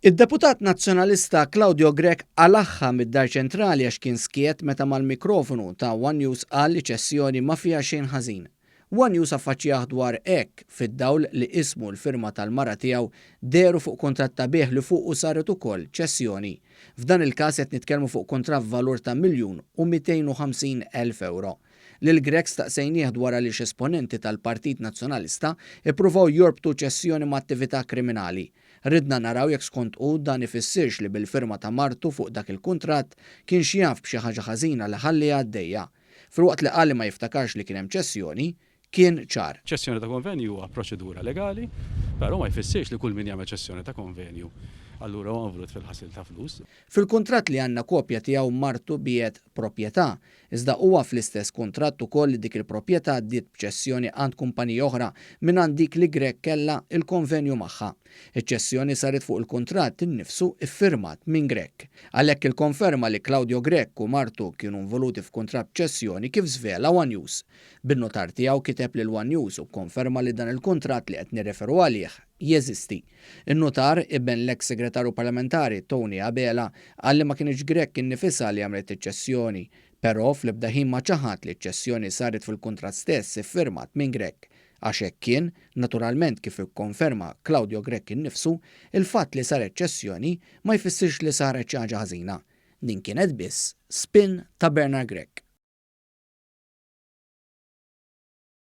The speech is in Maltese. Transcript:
Id-Deputat Nazzjonalista Claudio Grech qalagħha mid-Dar Ċentrali għax kien skiet meta mal-mikrofonu ta' one News qal li ċessjoni ma fiha xejn ħażin. One News affaċċjah dwar hekk fid-dawl li ismu u l-firma tal-mara tiegħu dehru fuq kuntratt ta' bigħ li fuqu saret ukoll ċessjoni. F'dan il-każ qed nitkellmu fuq kuntratt b'valur ta' miljun u mitejn u ħamsin elf ewro. Lil Grech staqsejnieh dwar għaliex esponenti tal-Partit Nazzjonalista ippruvaw jorbtu ċessjoni ma' attività kriminali. Ridna naraw jekk skont hu dan ifissirx li bil-firma ta' martu fuq dak il-kuntratt kienx jaf b'xi ħaġa ħażina li ħalliha għaddejja. Filwaqt li qal li ma jiftakarx li kien hemm ċessjoni, kien ċar. Ċessjoni ta' konvenju huwa proċedura legali, però ma jfissirx li kull min jagħmel ċessjoni ta' konvenju allura huwa involut fil-ħasil ta' flus. Fil-kuntratt li għandna kopja tiegħu martu biegħet proprjetà, iżda huwa fl-istess kuntratt ukoll li dik il-proprjetà għaddiet b'ċessjoni għand kumpanija oħra mingħand dik li Grech kellha l-konvenju magħha. Iċ-ċessjoni saret fuq il-kuntratt innifsu ffirmat minn Grech. Għalhekk il-konferma li Claudio Grech u martu kienu involuti f'kuntratt b'ċessjoni kif żvela one News, Bin-nutar tiegħu kiteb lil one News u kkonferma li dan il-kuntratt li qed nirreferu għalih jeżisti. In-nutar, iben l-eks Segretarju Parlamentari Tony Abela, qal li ma kinitx Grech innifisha li għamlet iċ-ċessjoni. Peró fl-ebda ħin ma ċaħad li ċ-ċessjoni saret fil-kuntratt stess iffirmat minn Grech. Għax hekk kien, naturalment kif ikkonferma Claudio Grech innifsu, il-fatt li saret ċessjoni ma jfissirx li saret xi ħaġa ħażina. Din kienet biss spin ta' Bernard Grech.